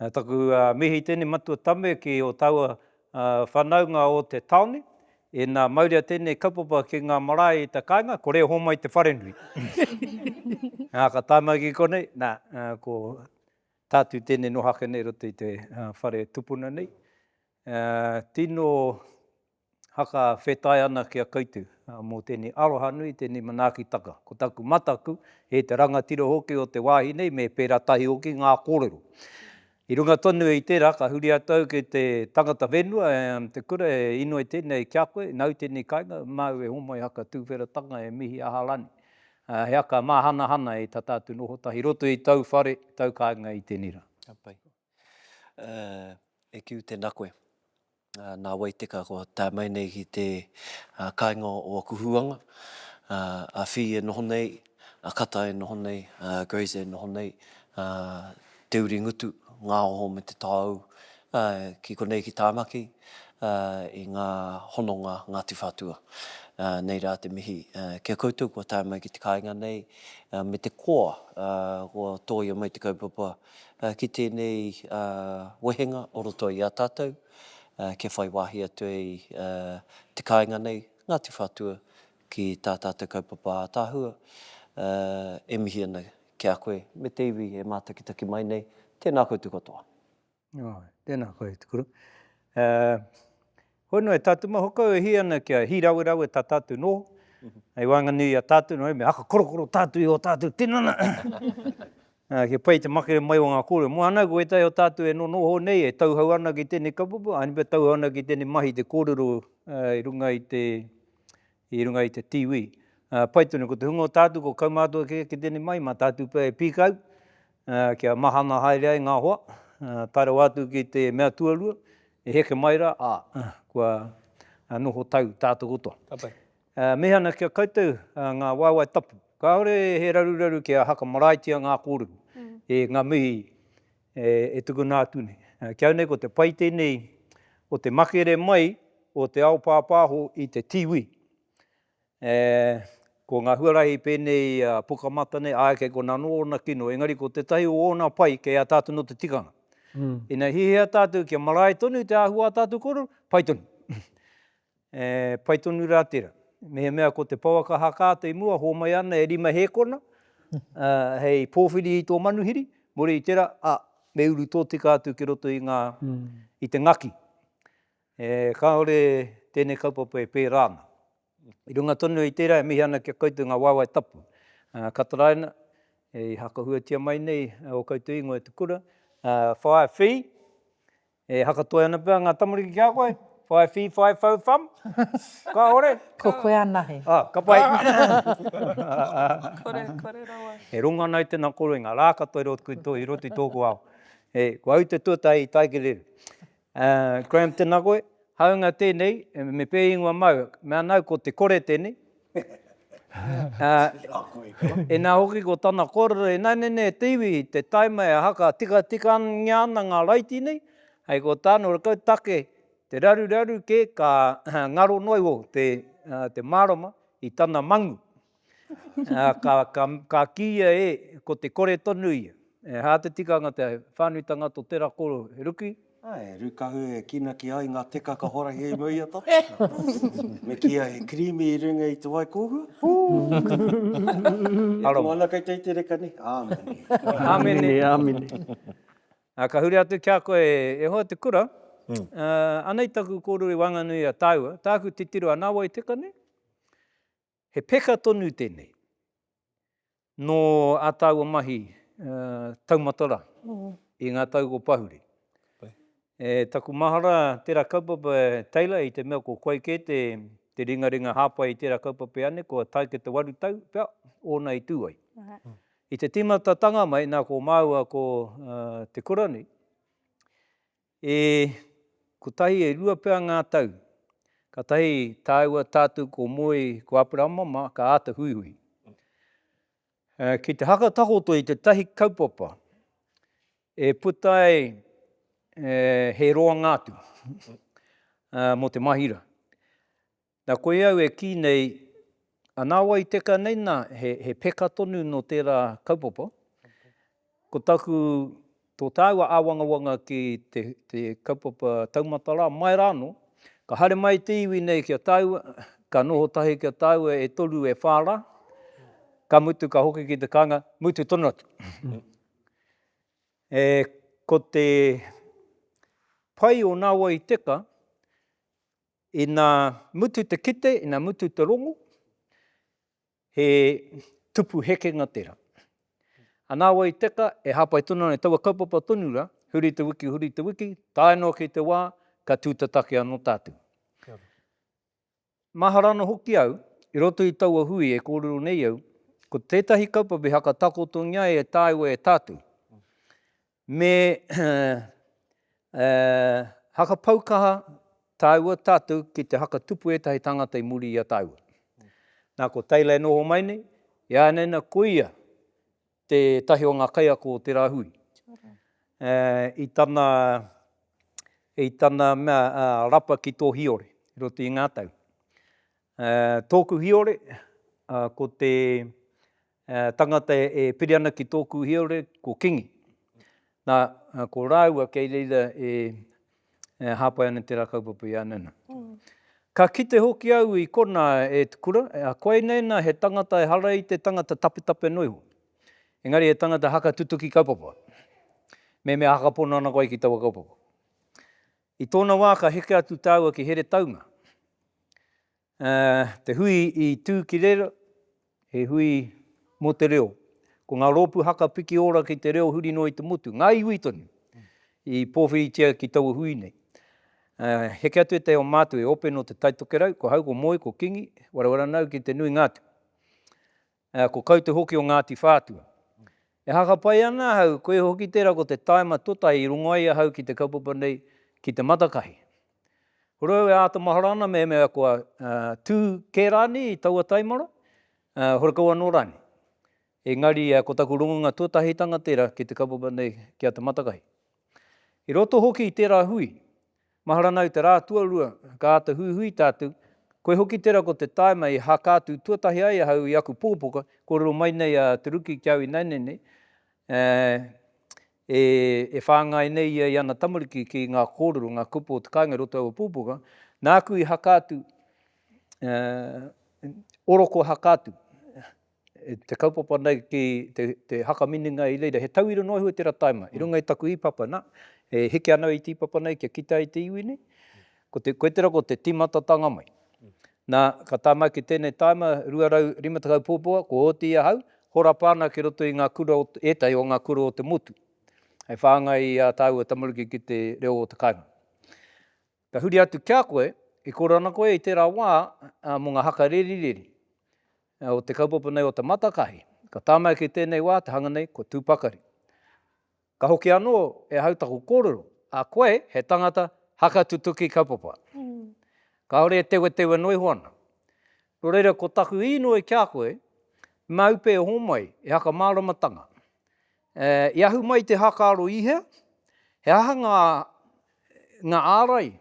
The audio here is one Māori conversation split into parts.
Na taku mihi tene matua tame ki o taua whanaunga o te taone, e na mauria tenei kaupapa ki nga marae i te kainga, ko re homai te wharenui. Na ka tae mai ki konei, na ko tatu tene noho ake nei i roto i te whare tupuna nei, tino haka whetai ana ki a koutou mō tēnei aroha nui, tēnei manaakitaka. Ko taku mataku, e te rangatira hoki o te wāhi nei, me pērā tahi hoki ngā kōrero. I runga tonu i tērā, ka huri atu au ki te tangata whenua, te kura e inoi tēnei ki a koe, nāu tēnei kainga, māu e homai haka tūwheratanga, e mihi aha rānei. He haka māhanahana e tata atu noho tahi, i roto i tau whare, tau kāinga i tēnei rā. Ka pai. E Kiu tēnā koe. Nā wai teka kua tae mai nei ki te kāinga o aku huanga, a Whī e noho nei, a Kata e noho nei, a Grace e noho nei, Te Uri Ngutu, Ngāoho me Te Taoū ki konei ki Tāmaki i ngā hononga Ngāti Whātua. Nei rā te mihi ki a koutou kua tae mai ki te kāinga nei me te koa kua tōia mai te kaupapa ki tēnei wehenga o roto i a tātou kia whai wāhi atu ai te kāinga nei, Ngāti Whātua, ki tā tātou kaupapa ātaahua. E mihi ana ki a koe me te iwi e mātakitaki mai nei, tēnā koutou katoa. Tēnā koe, Te Kura. Hono e tatu ma hokau e hi ana kia hi rawe rawe ta tatu noho, hei wanganui i a tatu noho me haka korokoro tatu i o tatu tinana. Kia pai te makere mai o nga kore mo ana ko wetahi o tatu e nonoho nei e tauhou ana ki tenei kaupapa, a ni pa tauhou ana ki tenei mahi te korero i runga i te i runga i te tiwi. Pai tonu, ko te hunga o tātou ko kaumātua kē ki tēnei mai, mā tātou pea e pīkau kia mahana haere ai ngā hoa, tae rawa atu ki te mea tuarua, e heke mai rā, ā, kua noho tau tātou katoa. Ka pai. Mihi ana ki a koutou ngā waewae tapu. Kāore he raruraru kia haka maraetia ngā kōrero. Ngā mihi E tukuna atu nei. Ki au nei ko te pai tenei o te makere mai o te ao pāpāho i te tiwi. E, ko nga huarahi penei a Pukamata nei, ae kei kona no ona kino, engari ko tetahi o ona pai kei a tatou no te tikanga. Ina hihia tatou kia marae tonu te ahua a tatou korero, pai tonu. E pai tonu rā tērā. Mehemea ko te pouaka haka atu i mua, hōmai ana e rima hēkona, ā, hei pōwhiri i tō manuhiri, muri i tērā, ā, me uru tōtika atu ki roto i ngā, i te ngaki. E, kāore tēnei kaupapa e pērā ana. I runga tonu i tērā e mihi ana ki a koutou ngā waewae tapu, ā, ka taraina, i hakahuatia mai nei ō koutou ingoa e te kura, ā, whāia whī, E hakatoi ana pea nga tamariki ki a koe, whai whi, whai whau wham. Kahore. Ko koe anahe. Ah, ka pai. Kore, kore rawa. E rongo ana i tena koro i nga ra katoa i roto i to, i roto i toku ao. E, kua au te tuatahi i tae ki reira. Graham, tena koe. Haunga tenei, me pe ingoa mau, mea nau ko te kore tenei. Inā hoki ko tana kōrero, Inainene te iwi, te taima e haka tikatikangia ana ngā raiti nei, hei ko tāna ora kau take te raruraru kē ka ngaro noa iho te mārama i tana mangu. Ka kīia e, ko te kore tonu ia. He hā te tikanga te whānuitanga tō tērā kōrero, he ruki, Ā, e rūkahu e kīnaki ai ngā teka ka horahi hei mau i a tātou. Me kīia he kirīmi i runga i te wai kōhua. Ū! Aroha. Moana kei te iti reka nei. Āmene. Āmene, āmene. Ā, ka huri atu ki a koe e hoa te kura, ā, anei taku kōrero i waenganui i a tāua, tāku titiro anā wai teka nei? He peka tonu tēnei. Nō a tāua mahi taumata rā, i ngā tau ko Pahuri. E taku mahara tērā kaupapa e Taylor i te mea ko koe kē te ringaringa hāpai i tērā kaupapa i Anne kua tae ki te waru tau pea ōna i tū ai. I te tīmatatanga mai nā ko māua ko Te Kura nei, E kotahi, e rua pea ngā tau, kātahi tāua tātou ko Moe, ko Aperahama mā, ka āta huihui. Ki te haka takoto i tētahi kaupapa e puta ai he roanga atu mō te mahira. Na koe au e kii nei, ana wai teka nei na, he, he peka tonu no tera kaupapa. Ko taku, to taua awangawanga ki te, te kaupapa taumata ra, mai ra no, ka hare mai te iwi nei ki a taua, ka noho tahi ki a taua e toru e wha ra, ka mutu ka hoki ki te kanga, mutu tonu atu. E, ko te pai o na wai teka, Ina mutu te kite, ina mutu te rongo, he tupu hekenga tera. Ana wa i teka, e hapai tonu ana i taua kaupapa tonu ra, huri te wiki, huri te wiki, tae noa ki te wa, ka tu tataki ano tatu. Mahara ano hoki au, i roto i taua hui e korero nei au, ko tetahi kaupapa i hakatakotongia e taua e tatu. Me hakapau kaha tāua tātou ki te hakatupu ētahi tāngata i muri i a tāua. Nā, ko Taylor e noho mai nei, ināianei nā, ko ia tētahi o ngā kaiako o tērā hui. I tana, i tana mea, rapa ki tō Hiore, i roto i ngā tau. Tōku Hiore, ko te, He tangata e piri ana ki tōku hiaure, ko Kingi. Nā, ko rāua kei reira e hāpai ana tērā kaupapa i a Nana. Ka kite hoki au i konā e Te Kura, koinei nā he tangata ehara i te tangata tapetape noa iho, engari he tangata haka tutuki kaupapa, mehemea haka pono ana koe ki taua kaupapa. I tōna wā ka heke atu tāua ki Heretaunga, Ā, te hui i tū ki reira, he hui mō te reo. Ko ngā rōpū haka piki ora ki te reo huri noa i te motu, ngā iwi tonu, i pōwhiritia ki taua hui nei. Ā, heke atu ētahi o mātou e ope nō te Taitokerau, ko Hau, ko Moe, ko Kingi, Warawaranau ki te nuinga atu. Ā, ko Kau te hoki o Ngāti Whātua. E hakapai ana ahau, koe hoki tērā ko te tāima totahi i rongo ai ahau ki te kaupapa nei ki te matakahi. Ko Roe e āta mahara ana mehemea kua tū kē rānei i taua taimara, horekau anō rānei. Engari ko taku rongonga tuatahitanga tērā ki te kaupapa nei ki a Te Matakahi. I roto hoki i tērā hui, Mahara nau te rā tuarua, ka āta huihui tātou, koe hoki tera ko te taima i haka atu tuatahi ai ahau i aku pokopoka, kōrero mai nei a Te Ruki ki au ināianei nei, ā, e whāngai nei ia i ana tamariki ki ngā kōrero, ngā kupu o te kāinga i roto i aua pokopoka, nāku i haka atu, ā, oroko haka atu. te kaupapa nei ki te haka minenga i reira, he tauira noa iho i tera taima. I runga i taku ipapa, na, e heke ana au i te ipapa nei kia kitea i te iwi nei, ko te, koe tera ko te timatatanga mai. Na, ka tama ki tenei taima, 250 puapuawa, kua oti ahau, horapa ana ki roto i nga kura o, etahi o nga kura o te motu, hei whangai i a taua tamaruki ki te reo o te kainga. Ka huri atu ki a koe, i koro ana koe i tērā wā mō ngā haka rerireri o te kaupapa nei o Te Matakahi. Ka tāmau ki tēnei wā te hanga nei, ko Tū Pakari. Ka hoki anō e ahau taku kōrero, a koe he tangata haka tutuki kaupapa. Kāore e tewetewe noa iho ana. Nō reira, ko taku īnoi ki a koe, māu pē homai e haka māramatanga, E, i ahu mai te hākaro i hea? He aha ngā, ngā ārai?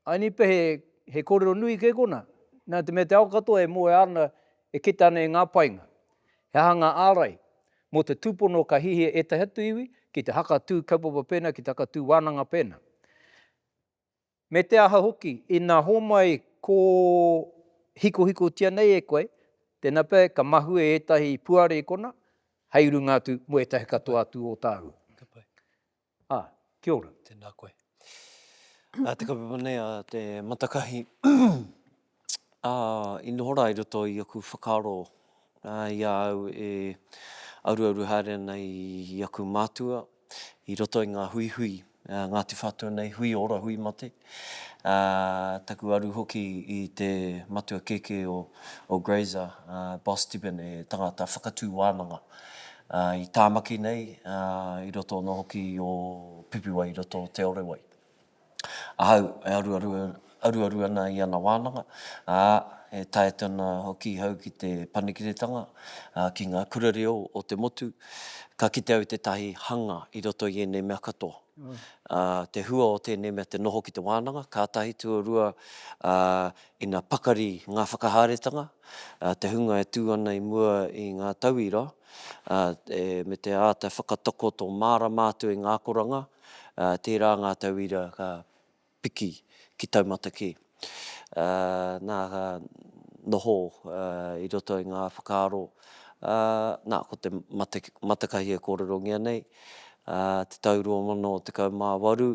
Ai ni pea he, he korero nui kē kona. Nā te mea te ao katoa e moea ana, e kita ana e ngā painga. He aha ngā ārai? Mō te tūpono ka hihia ētahi atu iwi ki te hakatū kaupapa pēnā, ki te hakatū wānanga pēnā. Me te aha hoki, ina homai kō hikohikotia nei e koe, tēnā pea ka mahue ētahi puarekona hei runga atu mō ētahi katoa atu o tāu. Ka pai. Ā, kia ora. Tēnā koe. Ā, te kaupapa nei a te Matakahi. ā, i noho rā i roto i aku whakaaro, ā, i a au e auruauru haere ana i aku mātua, i roto i ngā huihui, ā, Ngāti Whātua nei, hui ora, hui mate, ā, taku aru hoki i te matua kēkē o, o Grazer, ā, Boss Tibbin, he tangata whakatū wānanga, ā, i Tāmaki nei, ā, i roto anō hoki o Pipiwai i roto o Te Orewai. Ahau e aruaru ana i ana wānanga, ā, e taea atu ana hoki ahau ki te panekiretanga ki ngā kura reo o te motu. Ka kite au i tētahi hanga i roto i ēnei mea katoa. Te hua o tēnei mea te noho ki te wānanga, ka tahi, tuarua, ā, ina pakari ngā whakahaeretanga, te hunga e tū ana i mua i ngā tauira, me te āta whakatakoto mārama atu i ngā akoranga, tērā ngā tauira ka piki ki taumata kē. Nā, ka noho i roto i ngā whakaaro, nā, ko te matakahi e kōrerongia nei, te tau 2018,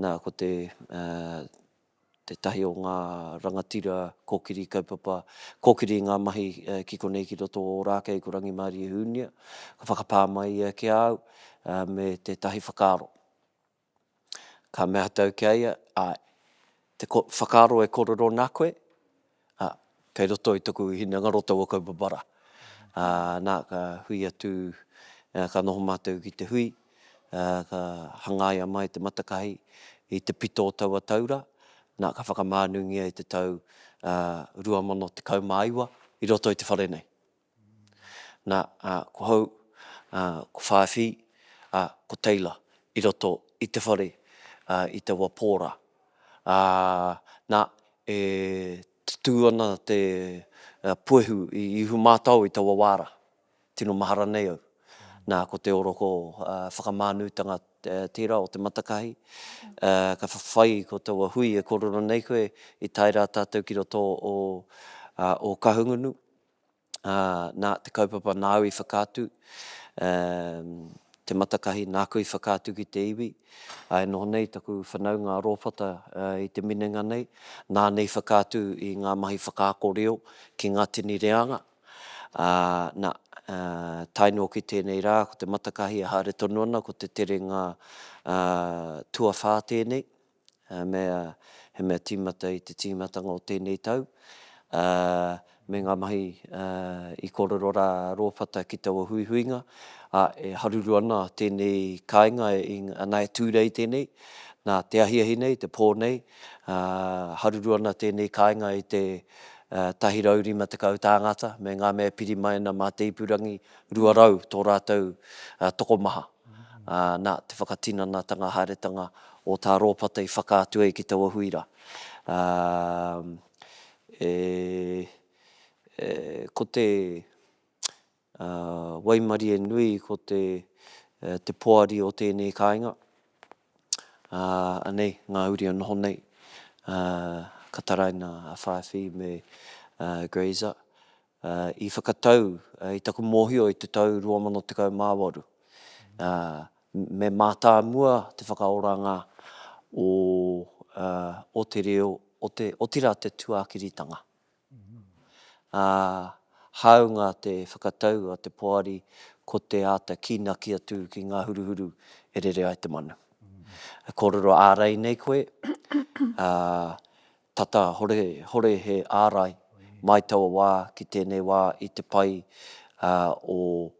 nā, ko te tētahi o ngā rangatira kōkiri kaupapa, kōkiri i ngā mahi ki konei ki roto o Ōrākei ko Rangimārie Hūnia, ka whakapā mai ia ki a au me tētahi whakaaro. Ka mea atu au ki a ia, āe, te whakaaro e kōrero nā koe, Ā, kei roto i taku hinengaro taua kaupapa rā. Ā, nā, ka hui atu, ā, ka noho mātou ki te hui, ā, ka hangaia mai te matakahi i te pito o taua tau rā, nā, ka whakamānungia i te tau, ā, 2019 i roto i te whare nei. Na, a, ko hou, a, ko Whāwhi, a, ko Taylor i roto i te whare, a, i te wa pō rā. A, na, e tutū ana te puehu i Ihu mātao i taua wā rā. Tino mahara nei au. Na, ko te oroko, a, whakamānūtanga tērā o Te Matakahi. A, ka whawhai ko taua hui e korero nei koe i tae rā tātou ki roto o, a, o Kahungunu. ā, nā, te kaupapa nāu i whakaatu, ā, te matakahi nāku i whakaatu ki te iwi, ā, e noho nei taku whanaunga a Rōpata i te minenga nei, nāna i whakaatu i ngā mahi whakaako reo ki ngā tini reanga, ā, nā, ā, tae noa ki tēnei rā, ko te matakahi e haere tonu ana, ko te terenga, ā, tuawhā tēnei. He mea, he mea tīmata i te tīmatanga o tēnei tau, ā, me ngā mahi, ā, i kōrero rā rō whata ki taua huihuinga, ā, e haruru ana tēnei kāinga i, nā, e tū nei tēnei, nā te ahiahi nei, te pō nei, ā, haruru ana tēnei kāinga i te, ā, 150 tāngata me ngā mea pirimaina mā te ipurangi, 200 tō rātou, ā, tokomaha. ā, nā te whakatinanatanga haeretanga o tā Rōpata i whakaatu ai ki taua hui rā. Ā, e, e, ko te, ā, waimarie nui ko te, e, te poari o tēnei kāinga, ā, anei ngā uri e noho nei, ā, ka taraina a Whaewhi me, ā, Grazer, i whakatau i taku mōhio i te tau 2018. Me mātāmua te whakaoranga o te reo, otirā te tuakiritanga. Hāunga te whakatau a te poari ko te āta kīnaki atu ki ngā huruhuru e rere ai te manu. E kōrero ārai nei koe, Tata horehore he ārai mai taua wā ki tēnei wā i te pai o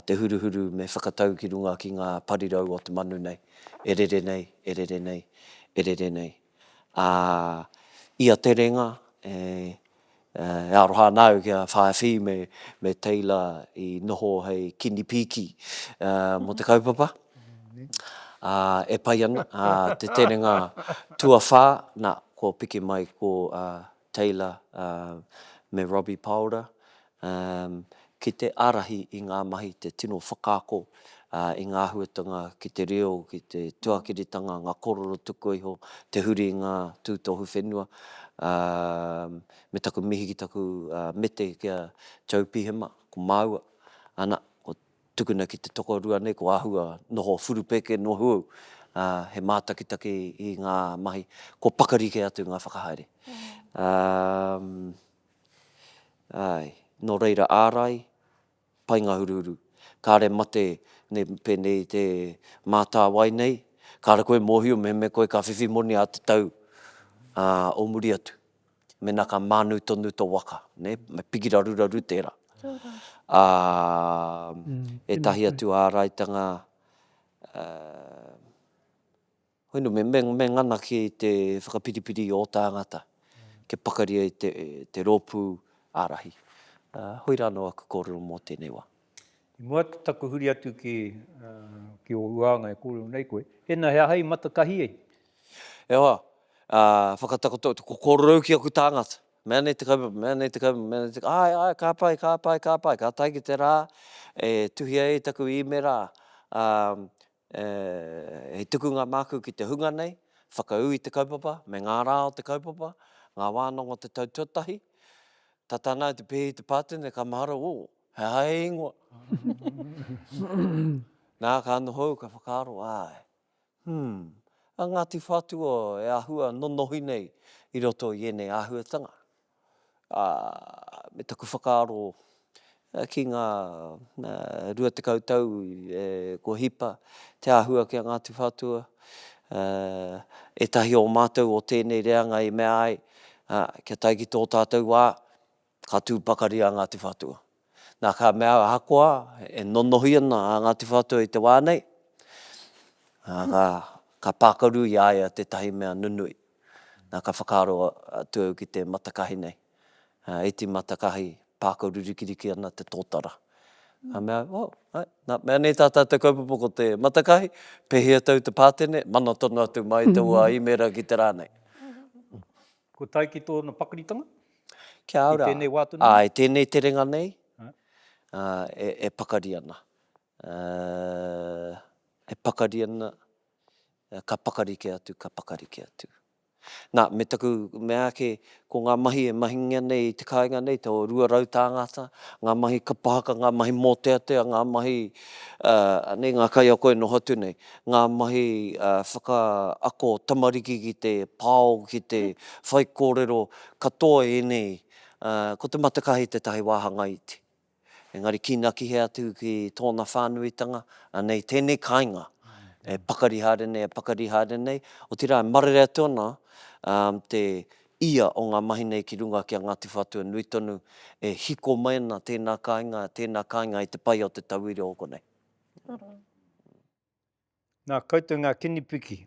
te huruhuru me whakatau ki runga ki ngā parirau o te manu nei. E rere nei, e rere nei, e rere nei. Ā, i a Te Renga, E aroha ana au ki a Whaewhi me Teila i noho hei kini pīki mō te kaupapa. E pai ana te terenga tuawhā, nā, kua piki mai ko Teila me Robbie Paora ki te ārahi i ngā mahi, te tino whakaako i ngā āhuatanga ki te reo, ki te tuakiritanga, ngā kōrero tukua iho, te huri i ngā tūtohu whenua. Me taku mihi ki taku mete ki a Joe Pihema, ko māua, ana, kua tukuna ki te tokorua nei, kua āhua noho whurupeke, nohu au, he mātakitaki i ngā mahi, kua pakari kē atu ngā whakahaere. Āe, nō reira ārai, painga huruhuru. Kāre mate ne pēnei te mātāwai nei, kāre koe mōhio mehemea koe ka whiwhi moni ā te tau, ā, o muri atu, mēnā ka mānu tonu tō waka, nē, me piki raruraru tērā. Ā, ētahi atu āraitanga, ā, Hoinu, me mengana ki te whakapiripiri o tāngata kia pakari ai te rōpū ārahi. Hoi rā anō aku kōrero mō tēnei wā. I mua i taku huri atu ki ō huānga e kōrero nei koe, tēnā he aha i mata tahi ai? E hoa, whakatakoto, ko kōrero au ki aku tāngata, mea nei te kaupapa, mea nei te kaupapa, mea nei te kaupapa, āe, āe, ka pai, ka pai, ka pai, ka tae ki te rā e tuhia ai taku īmera, E, he tukunga māku ki te hunga nei, whakaū i te kaupapa, me ngā rā o te kaupapa, ngā wānanga o te tau tuatahi. Tata ana au te pēhi te pātene, ka mahara, ō, he aha he ingoa? Nā, ka noho au, ka whakaaro, āe, hum, a Ngāti Whātua e āhua nonohi nei i roto i ēnei āhuatanga. ā, me taku whakaaro ki ngā 20 tau kua hipa te āhua ki a Ngāti Whātua, ētahi o mātou o tēnei reanga i mea ai, ā, kia tae ki tō tātou wā, ka tū pakari a Ngāti Whātua. Nā, ka mea, ahakoa e nonohi ana a Ngāti Whātua i te wā nei, ā, ka pākaru i a ia tētahi mea nunui. Nā, ka whakaaro atu au ki te matakahi nei, iti matakahi, pākaru rikiriki ana te tōtara. Ka mea, oh, right, nā, mea nei tā tātou kaupapa ko te matakahi, pēhea tau te pātene, mana tonu atu mai te ua īmēra ki te rā nei. Kua tae ki tōna pakaritanga? Kia ora. I tēnei wā tonu nei? Āe, tēnei terenga nei e pakari ana. E pakari ana, ka pakari kē atu, ka pakari kē atu. Nā, me taku mea ake, ko ngā mahi e mahingia nei i te kāinga nei, te o rua rau tāngata, ngā mahi kapa haka, ngā mahi mōteatea, ngā mahi, anei, ngā kaiako e noho atu nei. ngā mahi whakaako tamariki ki te pao, ki te whaikōrero katoa ēnei, ko te matakahi tētahi wāhanga iti. Engari kīnakihe atu ki tōna whānuitanga, anei tēnei kāinga e pakari haere nei, e pakari haere nei, otirā e marere atu ana te ia o ngā mahi nei ki runga ki a Ngāti Whātua nui tonu, e hiko mai ana tēnā kāinga, tēnā kāinga i te pai o te tauira o konei. Nā koutou ngā kinipiki.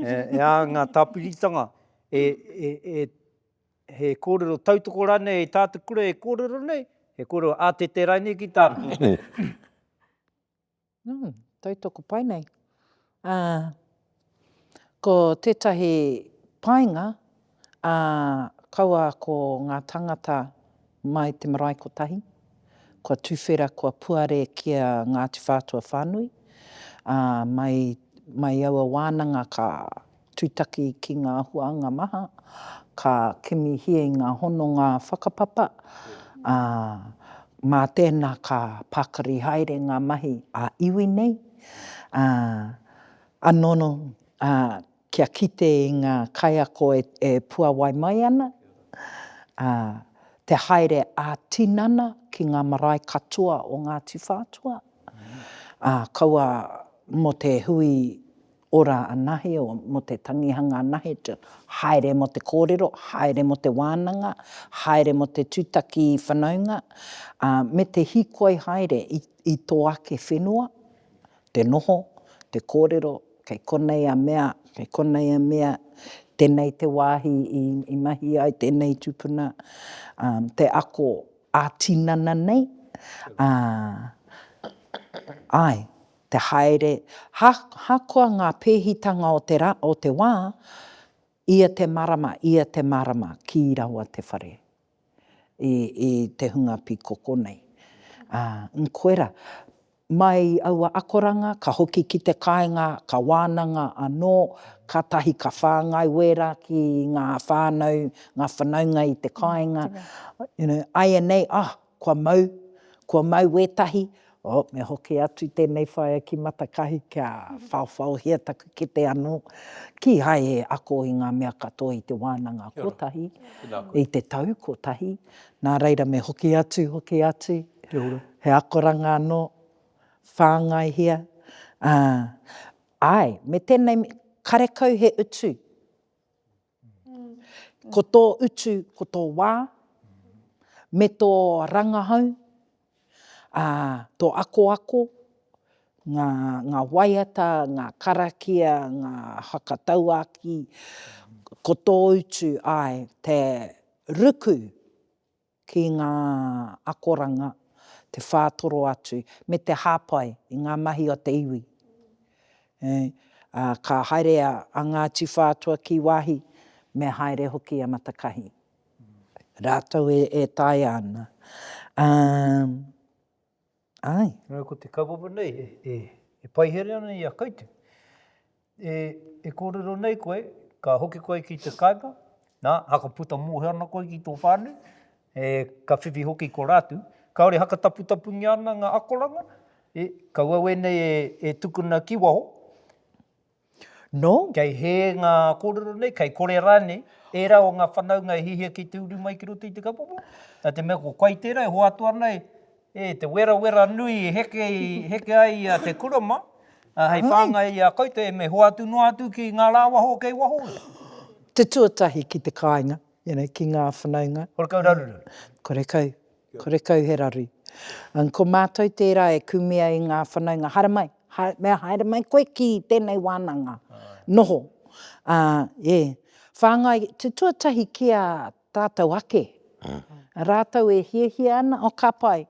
E ā ngā tāpiritanga, e, e, e, he kōrero tautoko rānei i tā te kura e kōrero nei, he kōrero ātete rānei ki tāku. Nō, tautoko pai nei. Ā, ko tētahi painga, ā, kaua ko ngā tāngata mai te marae kotahi, kua tuwhera, kua puare ki a Ngāti Whātua whānui, ā, mai, mai aua wānanga ka, Tūtaki ki ngā huānga maha, ka kimihia i ngā hononga whakapapa, ā, mā tēnā ka pakari haere ngā mahi ā-iwi nei, ā, anō, ā, kia kite i ngā kaiako e puāwai mai ana, ā, te haere ā-tinana ki ngā marae katoa o Ngāti Whātua, ā, kaua mō te hui Ora anahe o mo te tangihanga anahe to haere mo te korero, haere mo te wananga, haere mo te tutaki whanaunga, a, me te hikoi haere i, i to ake whenua, te noho, te korero, kei konei a mea, kei konei a mea, tenei te wahi i, i mahi ai tenei tupuna, a, te ako a tinana nei, a, ae, te haere, ahakoa ngā pēhitanga o te rā, o te wā, ia te marama, ia te marama, kī rawa te whare i, i te hunga pīkoko nei. Ā, koirā, mai i aua akoranga, ka hoki ki te kāinga, ka wānanga anō, kātahi ka whāngai wērā ki ngā whānau, ngā whanaunga i te kāinga, you know, āianei, ah, Kua mau, kua mau wētahi, oh, me hoki atu tēnei whaea ki Matakahi kia whaowhaohia taku kete anō, kīhai e ako i ngā mea katoa i te wānanga kotahi, i te tau kotahi, nā reira me hoki atu, hoki atu, he akoranga anō, whāngaihia, ā, āe, me tēnei, karekau he utu, Ko tō utu, ko tō wā, me tō rangahau, ā, tō akoako, ngā, ngā waiata, ngā karakia, ngā whakatauākī, ko tō utu, āe, te ruku ki ngā akoranga, te whātoro atu, me te hāpai i ngā mahi o te iwi. Ā, ka haere a Ngāti Whātua ki wāhi, me haere hoki a Matakahi. Rātou e taea ana. Ā. Āe. Nō ko te kaupapa nei e paihere ana i a koutou. E kōrero nei koe, ka hoki koe ki te kāinga, nā, haka puta mōhio ana koe ki tō whānau, ka whiwhi hoki ko rātou, kāore haka taputapungia ana ngā akoranga, kaua wēnei e tukuna ki waho, Nō. Kei hē ngā kōrero nei, kei kore rānei ērā o ngā whanaunga e hihia ki te uru mai ki roto i te kapomo, nā te mea ko koe tērā e hoatu ana e te werawera nui e heke, heke ai i a Te Kurama, ā, hei whāngai i a koutou e me hoatu noa atu ki ngā rāwaho kei waho. Te tuatahi ki te kāinga. you know, ki ngā whanaunga. Ko re kau raru raru. Ko re kau, ko re kau he raru. And ko mātou tērā e kume ai ngā whanaunga, haere mai, haere, haere mai koe ki tēnei wānanga, noho. Ā, ē, whāngai, te tuatahi ki a tātou ake, rātou e hiahia ana, oh ka pai,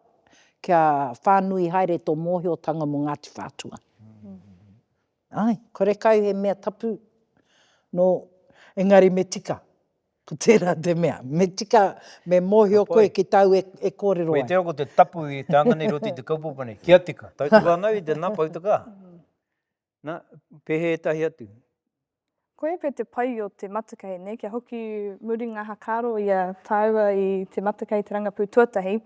kia whānui haere tō mōhiotanga mō Ngāti Whātua. Ae, kore kau he mea tapu no engari me tika. Ko tera te mea, me tika, me mohio koe ki tau e korero ai. Koe te ako te tapu i te anga nei roti te kaupapa nei, kia tika. Tau te whanau i te na poutaka. Na, pehe etahi atu. Koia pea te pai o te matakei, ne, kia hoki muri nga hakaro ia taua i te matakei te rangapu tuatahi,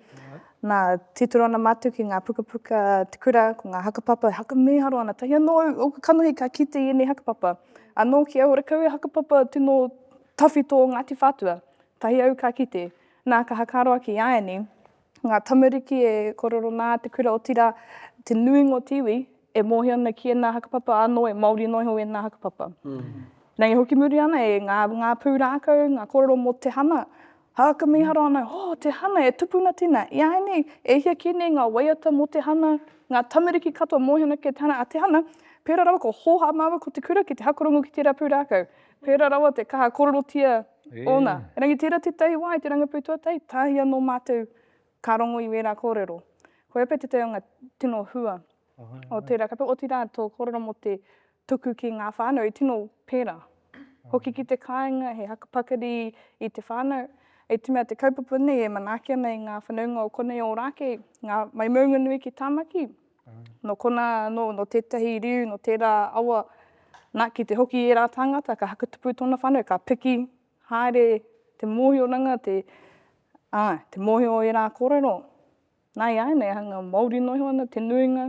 na, titiro ana matu ki nga pukapuka te kura, ko nga hakapapa e haka miharo ana, tahi ano au, oku kanohi ka kite i enei hakapapa, ano ki au horekau e hakapapa tino tawhito o Ngati Whatua, tahi au ka kite, na, ka hakaro ake i a ianei, ngā tamariki e korero nā te kura otira te nuinga o te iwi e mōhio ana ki ēnā hakapapa anō e Māori noa iho ēnā hakapapa. Nei hoki muri ana e ngā ngā pūrākau, ngā korero mō te hana, haka miharo ana, oh te hana e tupuna tina, iāinei e hia kē nei ngā waiata mō te hana, ngā tamariki katoa mōhio ana ki te hana, a te hana, pērā rawa ko hōhā māua ko te kura ki te hakorongo ki tērā pūrākau. Pērā rawa te kaha kororotia ōna. Engari tērā tētahi wā i te rangapū tuatahi, tahi anō mātou ka rongo i wērā kōrero. Koia pea tētahi o ngā tino hua o tērā kaupapa, otirā tō kōrero mō te tuku ki ngā whānau i tino pērā. Hoki ki te kāinga, he haka pakari i te whānau, i te mea te kaupapa nei e manaaki ana i ngā whanaunga o konei o Ōrākei, ngā mai maunganui ki Tāmaki, Nō konā anō, nō tētahi riu, nō tērā awa, nā, ki te hoki i ērā tāngata, ka hakatupu tōna whānau, ka piki haere te mōhioranga, te, ā, te mōhio o ērā kōrero. Nā, i āianei hanga, Māori noa iho ana te nuinga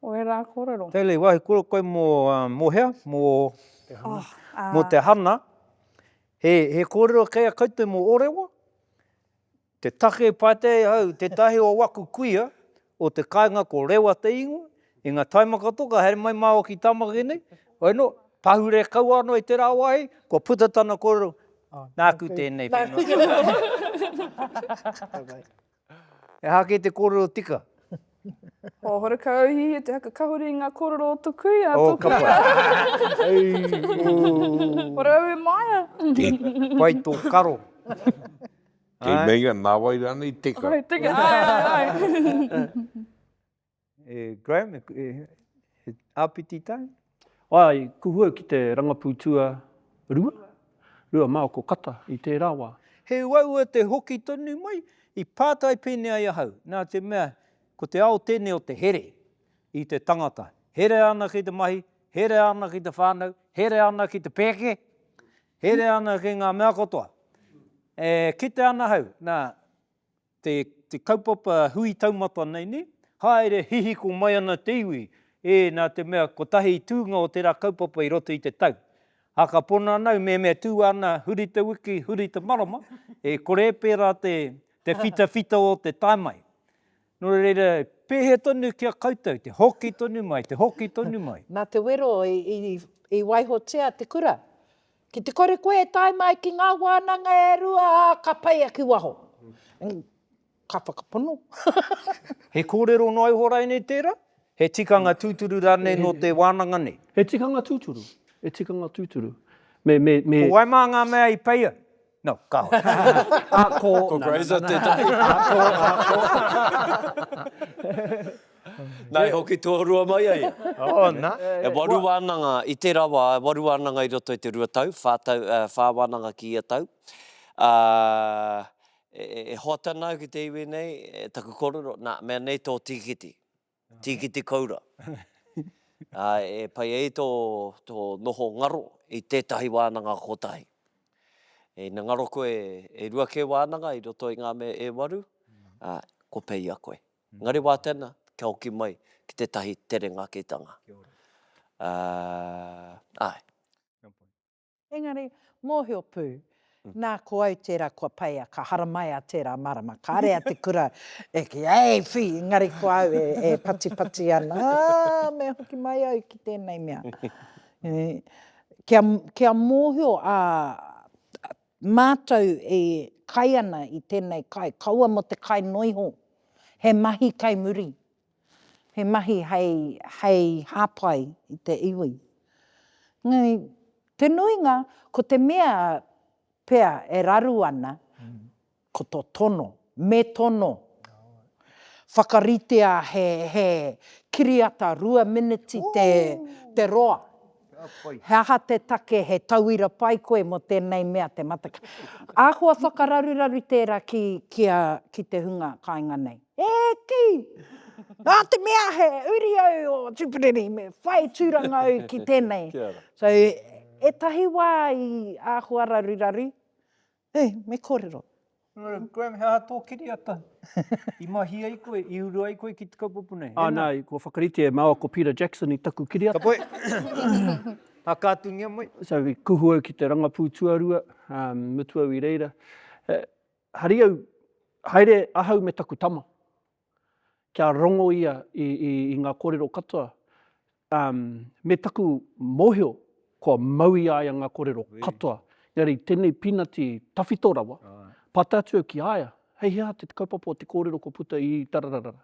o ērā kōrero. Hayley, wāhi kōrero koe mō, ā, mō hea? Mō, oh, ā, mō te hana. He, he kōrero kei a koutou mō Ōrewa? Te take pātai hau, tētahi o waku kuia o te kāinga ko Rewa te ingoa, i nga taima katoa ka haere mai māua ki Tamaki nei, hoi no, pahure kau ano i tera wahi, kua puta tana korero, Nāku tēnei whenua. Aha kē te korero tika? Ho Horekauhihe te haka kahore i nga korero o to kuia, to kuia. Hore au e Maia. Pai to karo. Kei meinga nāwai rānei teka. Ai, teka, ai, ai, ai. E Graham, e, he āpiti tai? Ai, kuhue ki te rangapū tua rua, rua māoko kata i tērā wā. He uaua te hoki tonu mai, i pātai pēnei ai ahau, nā te mea, ko te ao tēnei o te here i te tangata. Herea ana ki te mahi, herea ana ki te whānau, herea ana ki te pēke, Herea ana ki nga mea katoa. E kite ana hau, na, te, te kaupapa hui taumata nei, ne, haere hihiko mai ana te iwi, e, na te mea kotahi tūnga o tera kaupapa i roto i te tau. A ka pono ana au, me, me tu ana huri te wiki, huri te marama, e kore e pera te, te whitawhita o te tae mai. Nō reira, pēhea tonu ki a koutou te hoki tonu mai, te hoki tonu mai? Nā te wero i waihotia te kura. Ki te kore koe e tae mai ki ngā wānanga e rua, ka pai ake waho. Ka whakapono. He kōrero noa iho rānei tērā? He tikanga tūturu rānei nō te wānanga nei? He tikanga tūturu, he tikanga tūturu. Ko wai mā ngā mea i peia? No, ka hore. Ā, ko. Ko Grazer tētahi. Ā, ko, ā, ko. Nā, e hoki tuarua mai a ia. Oh, nā. E waru wānanga i tērā wā, e waru wānanga i roto i te rua tau, whā tau, whā wānanga ki ia tau. Ā, e hoat ana au ki te iwi nei, taku korero, nā, mea nei tō tīkiti. Tīkiti Koura. Ā, e pai ai tō, tō noho ngaro i tētahi wānanga kotahi. Ina ngaro koe e rua kē wānanga i roto i ngā mea e waru, ā, kua peia koe. Engari wā tēnā, kia hoki mai ki tētahi tere ngakitanga. Ā, āe. Engari, mōhio pū, nā, ko au tērā kua peia, ka haramaia tērā marama, ka rea te kura e kī, Hei, whī! Engari ko au e, e patipati ana, Aa, me hoki mai au ki tēnei mea. Kia, kia mōhio a, a mātou e kai ana i tēnei kai, kaua mō te kai noa iho, he mahi kei muri, he mahi hei, hei hāpai i te iwi. Engari, te nuinga, ko te mea pea e raru ana, ko tō tono, me tono. Whakaritea he, he kiriata rua miniti te, te roa. He aha te take, he tauira pai koe mō tēnei mea te matakite? Āhua whakararuraru tērā ki, ki a, ki te hunga kāinga nei. He kī! Nā te mea he uri au o Tipperary, me whai tūranga au ki tēnei. So, ētahi wā i āhua raruraru, Hei, me kōrero. Nō, Graham, he aha tō kiriata? I mahi ai koe, i uru ai koe ki te kaupapa nei? Ā, nā, kua whakaritea e māua ko Peter Jackson i taku kiriata. Ka pai. Tākātungia mai. So, i kuhu au ki te rangapū tuarua, mutu au i reira, hari au, haere ahau me taku tama, kia rongo ia i ngā kōrero katoa, Um, me taku mohio, kua mau i aia nga korero katoa. Engari tenei pinati tawhito rawa, pata atu au ki aia, hei hea te kaupapa o te korero kua puta i tarararara.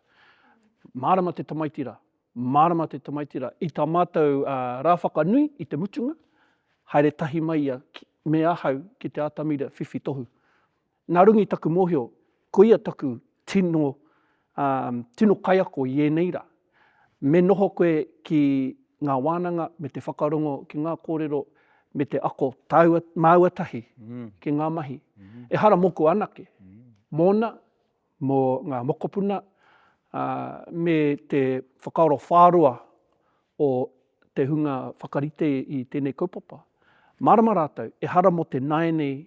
Marama te tamaiti ra, marama te tamaiti ra. I ta matou uh, ra whakanui i te mutunga, haere tahi mai ia me ahau ki te atamira whiwhi tohu. Nā Rungi taku mōhio, koia taku tino, ā, tino kaiako i ēnei rā. Me noho koe ki ngā wānanga me te whakarongo ki ngā kōrero me te ako tāua, māua tahi ki ngā mahi. Ehara mōku anake, mōna, mō ngā mokopuna, ā, me te whakaaro whāroa o te hunga whakarite i tēnei kaupapa. Mārama rātou, ehara mō te nāianei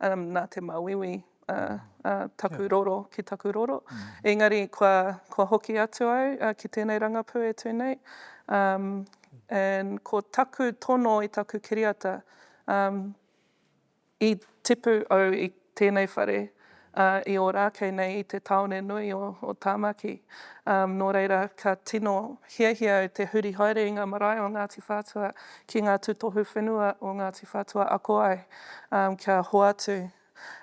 nā te māuiui a taku roro ki taku roro. Engari kua hoki atu au ki tēnei rangapū e tū nei, and ko taku tono i taku kiriata, i tipu au i tēnei whare, ā, i Ōrākei nei i te tāone nui o Tāmaki. Ā, nō reira, ka tino hiahia au te huri haere i ngā marae o Ngāti Whātua ki ngā tūtohu whenua o Ngāti Whātua ako ai, ā, kia hoatu.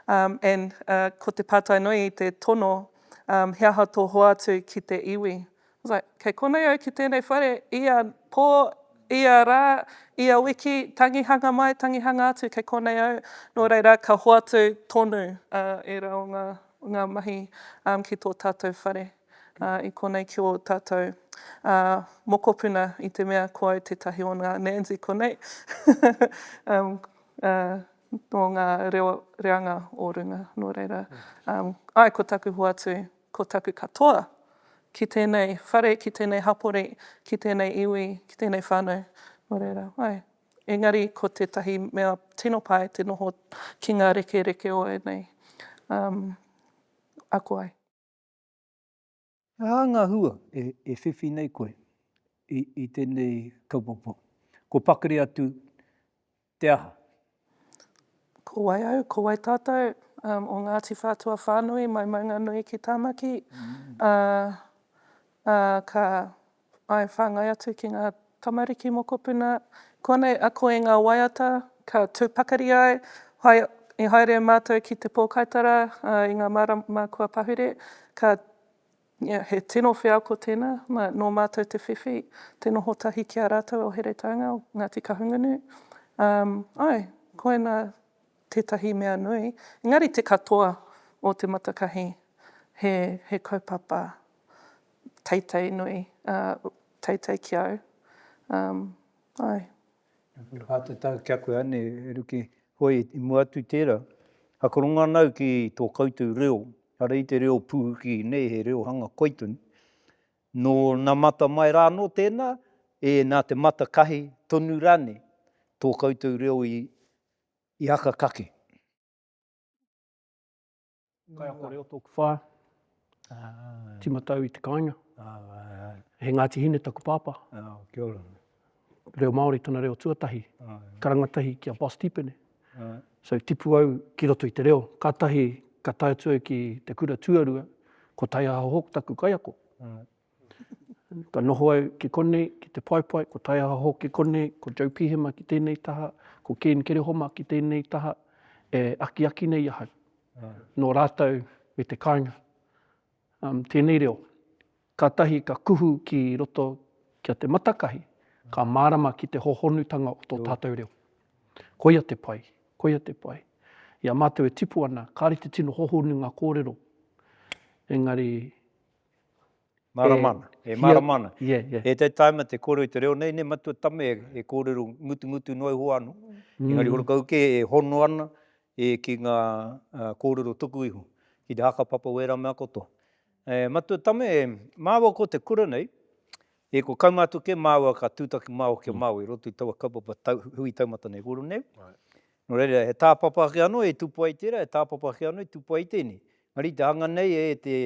Ā, Ann, ā, ko te pātai nui i te tono, ā, he aha tō hoatu ki te iwi? Right, kei konei au ki tēnei whare, ia pō, ia rā, ia wiki, tangihanga mai, tangihanga atu, kei konei au, nō reira, ka hoatu tonu ērā o ngā, ngā mahi ki tō tātou whare i konei ki ō tātou mokopuna i te mea ko au tētahi o ngā Nanzi konei o ngā reo reanga o runga, nō reira, āe ko taku hoatu Ko taku katoa, ki tēnei whare, ki tēnei hapori, ki tēnei iwi, ki tēnei whānau, nō reira, āe. Engari ko tētahi mea tino pai te noho ki ngā rekereke o ēnei ako ai. He aha ngā hua e whiwhi nei koe i tēnei kaupapa? Kua pakari atu Te aha? Ko wai au, ko wai tātou, um, o Ngāti Whātua whānui, mai Maunganui ki Tāmaki, ā, ā, ka, āe, whāngai atu ki ngā tamariki mokopuna, kōnei, a koe ngā waiata, ka tū pakari ai, hai, i haere mātou ki te pōkaitara, ā, i ngā marama kua pahure, ka, Yeah, he tino wheako tēnā, nā, nō mātou te whiwhi, te noho tahi ki a rātou o Heretaunga, o Ngāti Kahungunu. Um, ai, koina tētahi mea nui. Engari te katoa o Te Matakahi, he, he kaupapa teitei nui, uh, teitei ki au. Um, ai. Hatatau kia koe ane e Ruki. Hoi, i mua atu i tera, hakoronga ana au ki to koutou reo, kare i te reo puhuki nei he reo hanga koi tonu. No na mata mai ra ano tena, e na te mata kahi tonu rane to koutou reo i hakakake. Kaiako reo tōku whā, tīmatau i te kāinga. He Ngāti Hine taku pāpā. Reo Māori tana reo tuatahi, ka rangatahi ki a Boss Tipene. So tipu au ki roto i te reo, kātahi ka tae atu au ki te kura tuarua, ko Taiaha Hawke taku kaiako. Ka noho au ki konei, ki Te Paepae, ko Taiaha Hall ki konei, ko Joe Pihema ki tēnei taha, ko Ken Kerehoma ki tēnei taha, e akiaki nei ahau. Nō rātou me te kāinga. Tēnei reo, kātahi ka kuhu ki roto ki a Te Matakahi, ka mārama ki te hōhonutanga o tō tātou reo. Koia te pai, koia te pai. I a mātou e tipu ana, kāre te tino hōhonu ngā kōrero, engari Mārama ana. E mārama ana. E te taima te kōrero i te reo nei, ne matua tame e kōrero ngutungutu noa iho anō. Engari horo kau kē e hono ana ki ngā kōrero tuku iho, ki te hakapapa o ērā mea katoa. Matua tame, māua ko te kura nei, ko kaumā atu kē māua ka tūtaki māua ki a māua i roto i taua kaupapa hui taumata nei, kōrero nei. Nō reira, he tāpapa ake anō e tupua ai tērā, he tāpapa ake anō e tupua ai tēnei. Maritahanga nei e te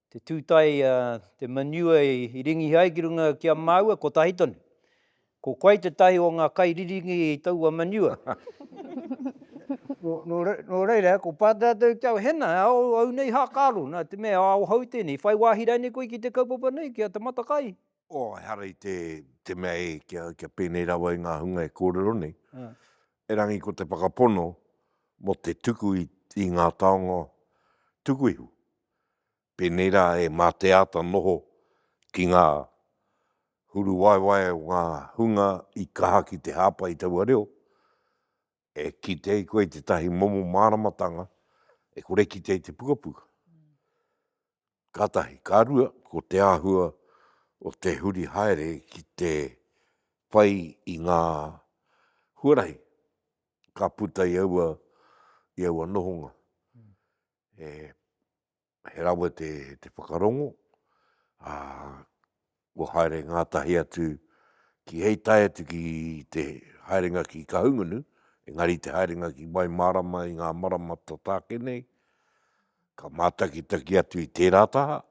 te tūtae a te manure i ringihi ai ki runga ki a māua kotahi tonu. Ko koe tētahi o ngā kai riringi i taua manure. Nō reira, ko Pātea tau ki au, Hena, e ao au nei hākaro, nā te mea e ao hou tēnei, whai wāhi rainei koe ki te kaupapa nei, ki a Te Matakai? Oh, ehara i te mea e, kia pēnei rawa i ngā hunga e kōrero nei. Erangi ko te whakapono mō te tuku i ngā taonga tuku ihu, pēnei rā e Mā Te Āta Noho ki ngā huruwaewae o ngā hunga i kaha ki te hāpai i taua reo, e kite ai koe i tētahi momo māramatanga e kore kitea i te pukapuka. Ka tahi, ka rua, ko te āhua o te huri haere ki te whai i ngā huarahi ka puta i aua, i aua nohonga. He rawe te, te whakarongo, ā, kua haere ngātahi atu ki hei tae atu ki te haerenga ki Kahungunu, engari te haerenga ki Waimārama i ngā marama tataake nei, ka mātakitaki atu i tērā taha,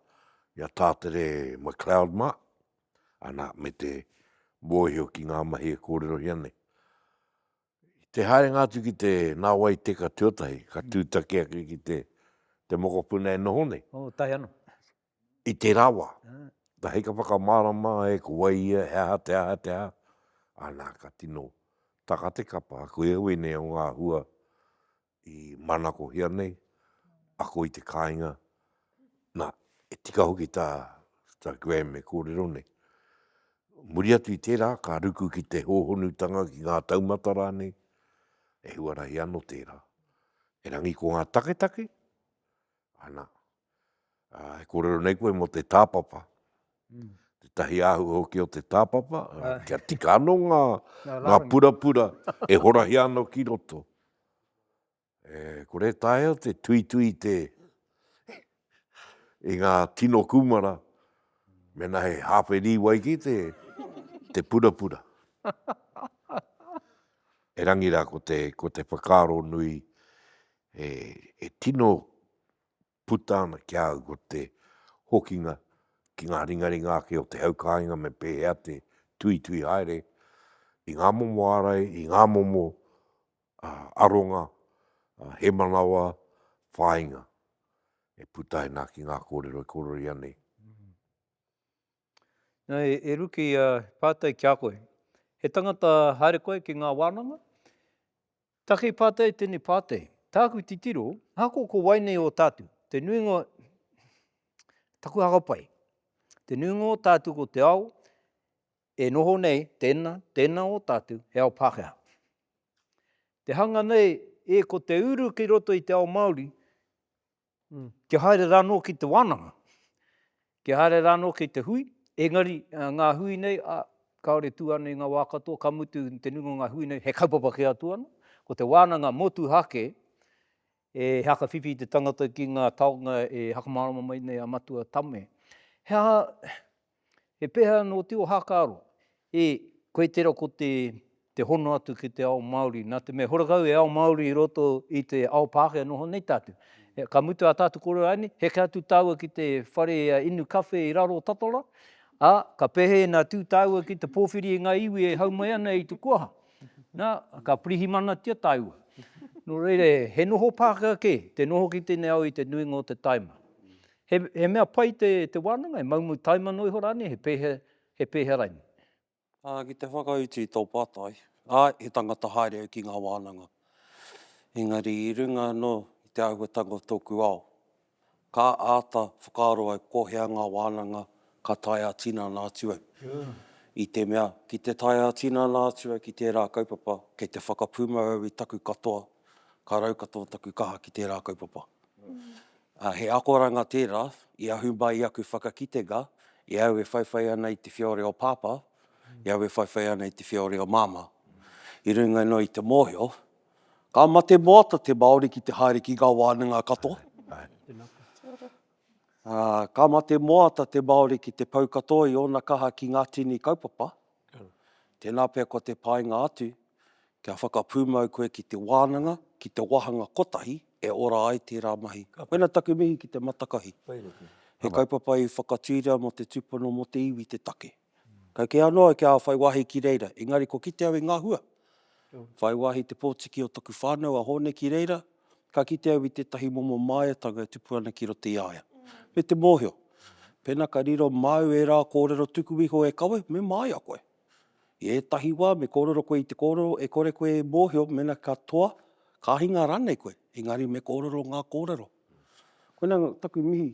i a Tātere McLeod mā, ana, me te mōhio ki ngā mahi e kōrerohia nei. I te haerenga atu ki te nāwai teka tuatahi, ka tūtaki ake ki te, te mokopuna e noho nei. Oh, tahi anō. i te rawa, na hei ka whakamārama e ko wai ia, he aha te aha, te aha, ana ka tino taka te kapa, ko ia wēnei o ngā hua i manakohia nei, ako i te kāinga, na, e tika hoki tā, tā Graham e kōrero nei. Muri atu i tērā, ka ruku ki te hōhonutanga, ki ngā taumata rānei, e huarahi ano tērā. Erangi ko ngā taketake, ana, Ā, e kōrero nei koe mō te tāpapa, tētahi āhua hoki o te tāpapa, kia tika anō ngā, ngā purapura e horahia ana ki roto. E, kore e taea te tuitui i te, i ngā tino kūmara, mēnā he hāwhe rīwai ki te, te purapura. Erangi rā ko te, ko te whakaaro nui, e, e tino puta ana ki a au ko te hokinga ki ngā ringaringa ake o te hau kāinga me pēhea te tuitui haere i ngā momo ārai, i ngā momo aronga, he manawa whāinga e puta ana ki ngā kōrero e korori ana nei. Nā, e, e Ruki, uh, pātai ki a koe. He tangata haere koe ki ngā wānanga? Take pātai tēnei pātai. Tāku titiro, hako ko wai nei o tātu. Te nuinga, taku hakapai. Te nuinga o tātu ko te ao, e noho nei, tēnā, tēnā o tātu, he ao Pākehā. Te hanga nei, e ko te uru ki roto i te ao Māori, Kia haere rānō ki te wānanga, kia haere rānō ki te hui, engari ngā hui nei, kāore tū ana i ngā wā katoa, ka mutu te nuinga o ngā hui nei, he kaupapa kē atu ana, ko te wānanga motuhake e whakawhiwhi te tangata ki ngā taonga e whakamārama mai nei a Matua Tame. He aha He pēhea anō te ohakaaro? E, koe tera ko te, te hono atu ki te ao Māori, nā te mea hora kau e ao Māori i roto i te ao Pākehā noho nei tātou. Ka mutu ā tātou kōrero āianei, heke atu tāua ki te whare inu kawhe i raro o Tatola, ā, ka pehe ina tū tāua ki te pōwhiri i ngā iwi e hau mai ana i te kuaha. Nā, ka pirihimanatia tāua. Nō reira, he noho Pākehā kē te noho ki tēnei ao i te nuinga o te taima. He, he mea pai te, te wānanga, he maumau taimano iho rānei, he pēhea, he pēhea rainei? Ā, ki te whakautu i tō pātai, āe, he tangata haere au ki ngā wānanga. Engari i runga anō i te āhuatanga o tōku ao, ka āta whakaaro au ko hea ngā wānanga ka tae ā-tinana atu au. I te mea, ki te tae ā-tinana atu au ki tērā kaupapa, kei te whakapūmau au i taku katoa, ka rau katoa taku kaha ki tērā kaupapa. ā, he akoranga tērā i ahu mai i aku whakakitenga i au e whaiwhai ana i te whiore o Pāpā, i au e whaiwhai ana i te whiore o Māmā. I runga noa i te mōhio, ka mate moata te Māori ki te haere ki ngā wānanga katoa, ā, ka mate moata te Māori ki te pau katoa i ōna kaha ki ngā tini kaupapa, Tēnā pea ko te painga atu, kia whakapūmau koe ki te wānanga, ki te wāhanga kotahi e ora ai tērā mahi. Koina taku mihi ki te matakahi. He kaupapa i whakatūria mō te tūpono mō te iwi te take. Kau kē anō au kia whai wāhi ki reira, engari kua kite au i ngā hua. Whai wāhi te pōtiki o taku whānau a Hōne ki reira, ka kite au i tētahi momo māiatanga e tupu ana ki roto i a ia. Me te mōhio, pēnā ka riro māu ērā kōrero tuku iho e kawe, me māia koe. I ētahi wā me kōrero koe i te kōrero e kore koe e mōhio mēnā ka toa, ka hinga rānei koe, engari me kōrero ngā kōrero. Koinā taku mihi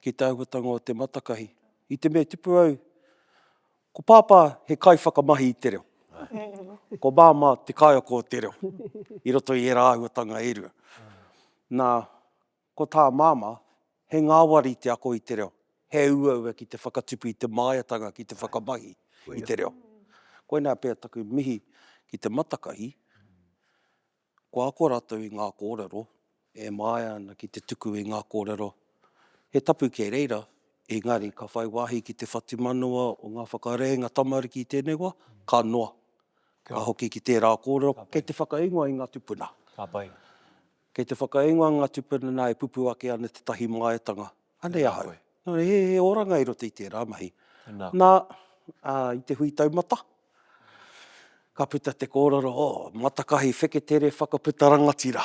ki te āhuatanga o Te Matakahi. I te mea e tipu au Ko Pāpā he kaiwhakamahi i te reo. Ko Māmā te kaiako o te reo i roto i ērā āhuatanga e rua. Nā, ko tā Māmā, he ngāwari te ako i te reo, he uaua ki te whakatupu i te māiatanga ki te whakamahi i te reo. Koinā pea taku mihi ki te matakahi, Ko ako ratou i nga korero e maea ana ki te tuku i nga korero he tapu ke reira, engari ka whai wahi ki te whatumanawa o nga whakareenga tamariki i tenei wa, ka noa, ka hoki ki tera korero kei te whakaingoa i nga tupuna. Kei te whakaingoa nga tupuna na e pupu ake ana tetahi maeatanga Anei ahau. He, he oranga i roto i tērā mahi. Tēnā. Nā, ā, i te hui taumata, ka puta te kōrero, o, matakahi wheketere whakaputa rangatira.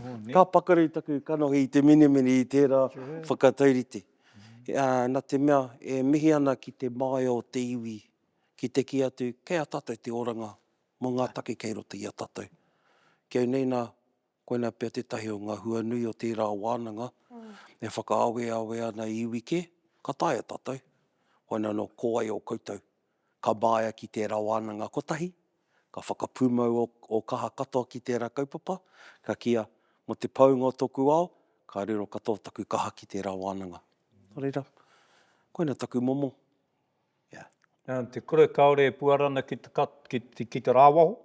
Oh, nē. Ka pakari taku kanohi i te minimini i tērā Sure. whakataurite. Ā, nā te mea, e mihi ana ki te māia o te iwi, ki te kī atu, kei a tātou te oranga mō ngā take kei roto i a tātou. Kei nei nā, Koinā pea tētahi o ngā hua nui o tērā wānanga e whakaaweawe ana i iwi kē, ka taea tātou, koinā nō ko wai o koutou, ka māia ki tērā wānanga kotahi, ka whakapūmau ō kaha katoa ki tērā kaupapa, ka kīa, mō te paunga o tōku ao, ka riro katoa taku kaha ki tērā wānanga. Nō reira, koinā taku momo. Nā te kura kāore e puara ana ki te rāwaho?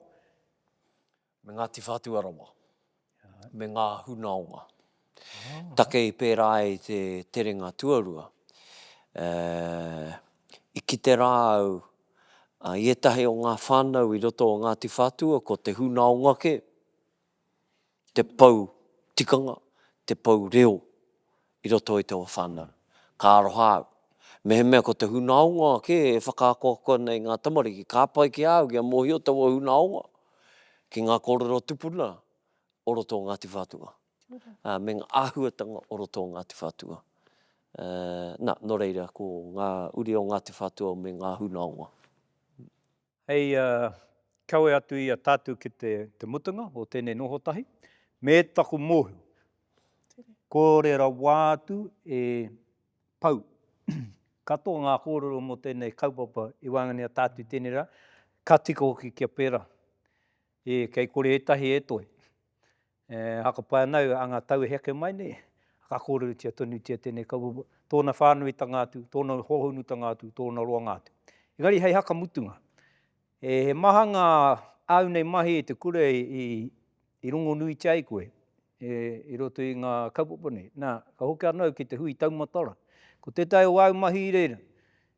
Me Ngāti Whātua rawa, me ngā hunaonga. Take i pērā ai i te terenga tuarua, i kite rā au i ētahi o ngā whānau i roto o Ngāti Whātua ko te hunaonga kē, te pou tikanga, te pou reo i roto i taua whānau. Ka aroha au. Mehemea ko te hunaonga kē e whakaakoako ana i ngā tamariki, ka pai ki a au kia mōhio taua hunaonga ki ngā kōrero tupuna o roto o Ngāti Whātua, ā, me ngā āhuatanga o roto o Ngāti Whātua. Ā, nā, nō reira, ko ngā uri o Ngāti Whātua me ngā hunaonga. hei kawe atu i a tātou ki te mutunga o tēnei noho tahi, me taku mōhio, kore rawa atu e pau katoa ngā kōrero mō tēnei kaupapa i waenganui a tātou i tēnei rā, ka tika hoki kia pērā. E, kei kore ētahi e toe. E, haka pai ana au, anga tau e heke mai nei, ka kōrerotia tonutia tēnei kaupapa, tōna whānuitanga atu, tōna hohonutanga atu, tōna roanga atu. Engari hei haka mutunga, e, he maha ngā āu nei mahi i te kura i, i, i rongonuitia ai koe, e, i roto i ngā kaupapa nei. Nā, ka hoki ana au ki te hui taumatara. Ko tētahi o āu mahi i reira,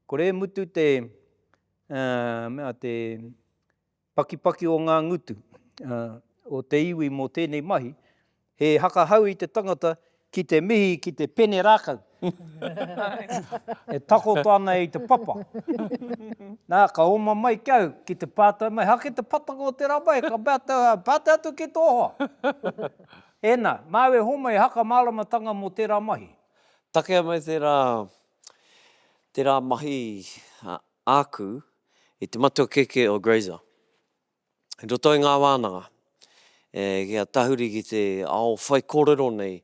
kore e mutu te, uh, mea, te, Pakipaki o ngā ngutu o te iwi mō tēnei mahi, he hakahau i te tangata ki te mihi ki te pene rākau e takoto ana i te papa. Nā, ka oma mai ki au ki te pātai mai, Hake te patanga o tērā mahi? Ka mea te hoa, Pātai atu ki tō hoa. Ēnā, māu e homa he haka māramatanga mō tērā mahi. Takea mai tērā, tērā mahi āku I te matua kēkē o Grazer. I roto i ngā wānanga, kia tahuri ki te ao whaikōrero nei,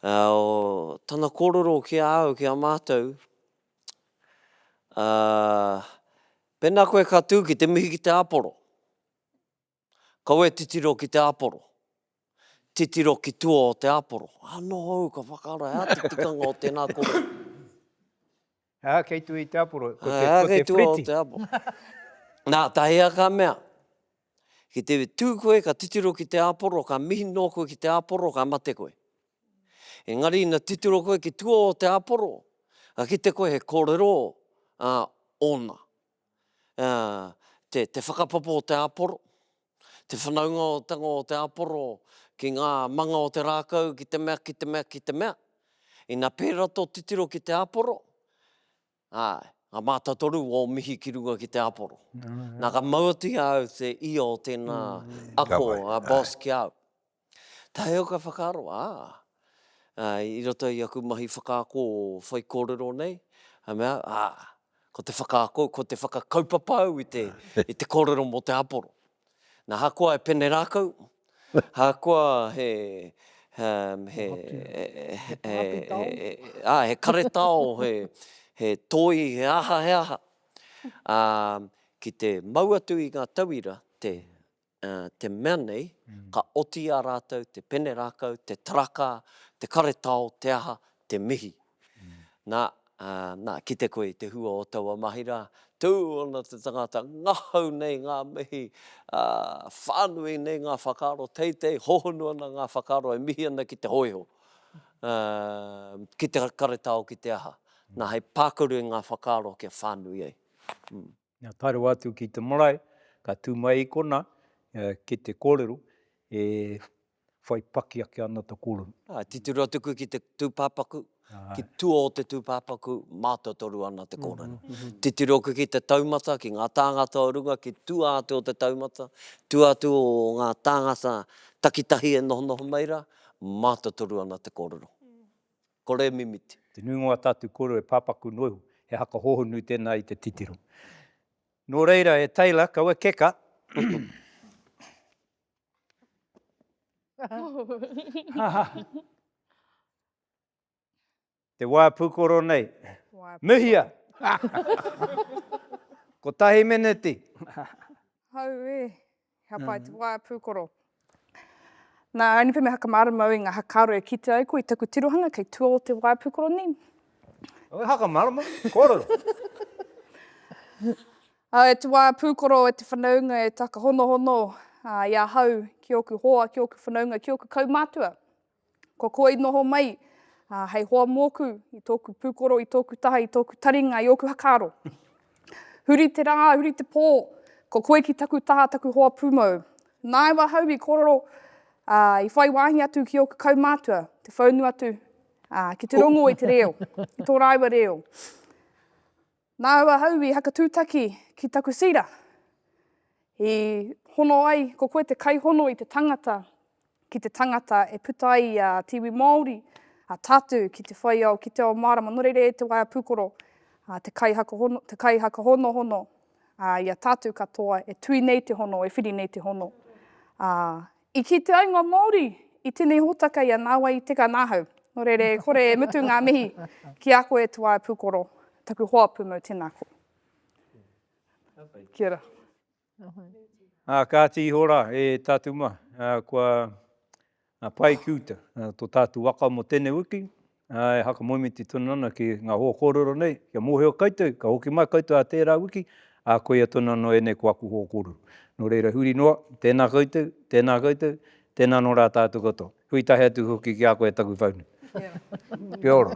tana kōrero ki a au, ki a mātou, pēnā koe ka tū ki te mihi ki te āporo, Kau e titiro ki te aporo. Titiro ki tua o te aporo. Ano au ka whakaara, he aha te tikanga o tena koro? He aha kei tua i te aporo? Ko te, ko te pretty. Na, tahea ka mea, ki te tu koe ka titiro ki te aporo, ka mihi noa koe ki te aporo, ka mate koe. Engari ina titiro koe ki tua o te aporo, ka kite koe he korero, a, ona. te, te whakapapa o te āporo, te whanaungatanga o te āporo ki ngā manga o te rākau, ki te mea, ki te mea, ki te mea. Ina pērā tō titiro ki te āporo, ā, ngā mātatoru o mihi ki runga ki te āporo. Nā, ka mau atu i a au te ia o tēnā mm. ako, a boss ki au. Taheo ka whakaaro, ā, i roto i aku mahi whakaako whaikōrero nei, ka mea, ā, ko te whakaako, ko te whakakaupapa au i te kōrero mō te āporo. Nā, ahakoa he pene rākau, ahakoa he, he, ā, he karetao, he toi, he aha, he aha, ā, ki te mau atu i ngā tauira, te Ā, te mea nei, ka oti i a rātou te pene rākau, te tarakā, te karetao, te aha, te mihi. Nā, ā, nā, kite koe i te hua o taua mahi rā, tū ana te tangata, ngahau nei ngā mihi, ā, whānui nei ngā whakaaro teitei, hohonu ana ngā whakaaro e mihi ana ki te hōiho, ā, ki te karetao, ki te aha. Nā, hei pākaru i ngā whakaaro kia whānui ai. Nā tae rawa atu ki te marae, ka tū mai i konā, ki te kōrero, e whai paki ake ana te kōrero. Ā, titiro atu koe ki te tūpāpaku, ki tua o te tūpāpaku, mātotoru ana te kōrero. Titiro koe ki te taumata, ki ngā tāngata o runga, ki tua atu o te taumata, tua atu o ngā tāngata takitahi e nohonoho mai rā, mātotoru ana te kōrero. Kore mimiti. Te nuinga o a tātou kōrero e pāpaku noa iho, he haka hohonu tēnā i te titiro. Nō reira, e Taylor, kaua keka! Te wā pūkoro nei. Mihia! Kotahi meneti. Hau e! He pai te waea pūkoro. Nā, I only put my hakamāra mau i ngā hakāro e kitea ai koe i taku tirohanga kei tua o te waea pūkoro nei. He hakamāra mau, kōrero. Ā, e te waea pūkoro, e te whanaunga, e taka honohono, ā, i ahau, ki ōku hoa, ki ōku whanaunga, ki ōku kaumātua. Ko koa i noho mai hei hoa mōku, i tōku pūkoro, i tōku taha, i tōku taringa, i ōku hakaaro. Huri te rā, huri te pō, ko koe ki taku taha, taku hoa pūmau. Nāu ahau i kōrero, ā, i whai wāhi atu ki ōku kaumātua, te whaunu atu, ā, ki te rongo i te reo, i tō rāua reo. Nāu ahau i hakatūtaki ki taku sira, i hono ai, ko koe te kaihono i te tangata ki te tangata e puta ai a te iwi Māori, a tātou ki te whai ao, ki te ao mārama, nō reira e te waea pūkoro, te kaihakahonohono, i a tātou katoa e tui nei te hono, e whiri nei te hono, I kī te aenga Māori, i tenei hōtaka ia nāwai i teka nāhau. Nō reira e kore e mutu ngā mihi ki a koe e Tuae Pūkoro, taku hoa pūmau tēnā koe. Kia ora. Ā, kāti iho rā e tātou mā, ā, kua pae ki uta tō tātou waka mō tēnei wiki, e whakamoemiti tonu ana ki ngā hoa kōrero nei, kia mōhio koutou, ka hoki mai koutou ā tērā wiki, ā, koia tonu anō ēnei ko aku hoa kōrero. Nō reira, huri noa, tēnā koutou, tēnā koutou, tēnā anō rā tātou katoa. Hui tahi atu hoki ki a koe e taku whaunu. Kia ora.